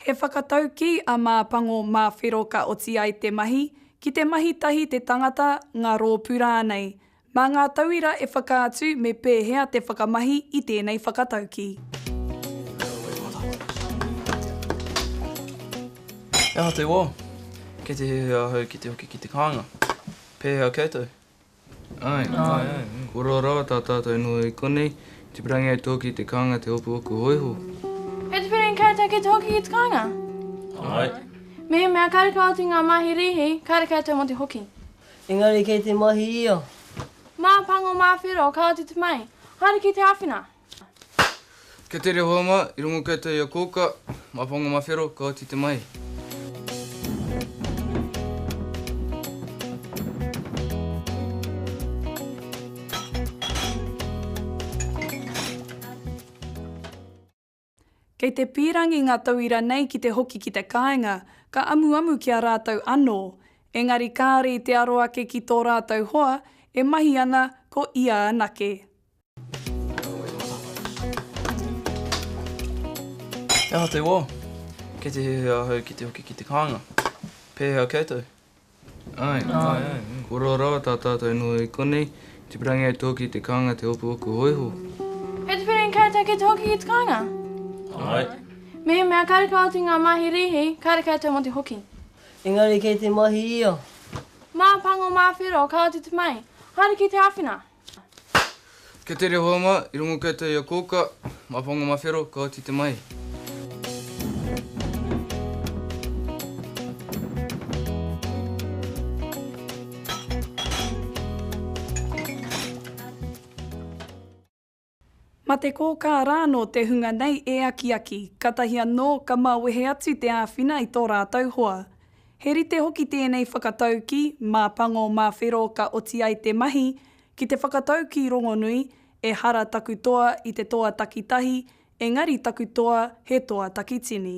He whakataukī a Mā Pango mā Whero ka oti ai te mahi, ki te mahi tahi te tangata, ngā rōpū rānei. Mā ngā tauira e whakaatu me pēhea te whakamahi i tēnei whakataukī. He aha te wā? Kei te herea ahau ki te hoki ki te kāinga. Pēhea koutou? Āe, āe, āe. Koroa rawa tā tātou inoi i konei, tipirangi ai tōki i te kānga te hopu oku hōiho. E tipirangi koutou ki te hoki ki te kānga? Āe. Mehemea kareka oti ngā mahi rīhi, kāre koutou mō te hoki. Engari kei te mahi ia. Mā pango, mā whero, kāore te te mai. Haere ki te āwhina. Kei te rehua ma, i rongo koutou i a kouka, ma whanga ma whero, ka oti te mahi. Kei te pīrangi ngā tauira nei ki te hoki ki te kāinga, ka amuamu ki a rātou anō. Engari kāore i te aro ake ki tō rātou hoa, e mahi ana ko ia anake. He aha te wā? Kei te hehe ahau ki te hoki ki te kānga. Pēhea koutou? Āe, āe, āe. Koroa rawa tā tātou noho i konei, tipirangi ai tō ki te kānga te hopuhopu hōiho. Kei te whiringi koutou ki te hoki ki te kānga? Āe. Mehemea kareka oti ngā mahi rīhi, kāre koutou mō te hoki. Engari kei te mahi ia. Mā pango, mā whero, ka oti te mahi. Haere ki te āwhina! Kei te rehoa ma, i rongo koutou i a kouka, ma whanga ma whero, ka oti te mahi. Mate kōkā rānō te hunga nei e akiaki, katahi anō ka mawehe atu te āwhina i tō rātou hoa. He rite hoki tēnei whakataukī mā Pango mā Whero ka oti ai te mahi ki te whakataukī rongonui, Ehara taku toa i te toa takitahi, engari taku toa he toa takitini.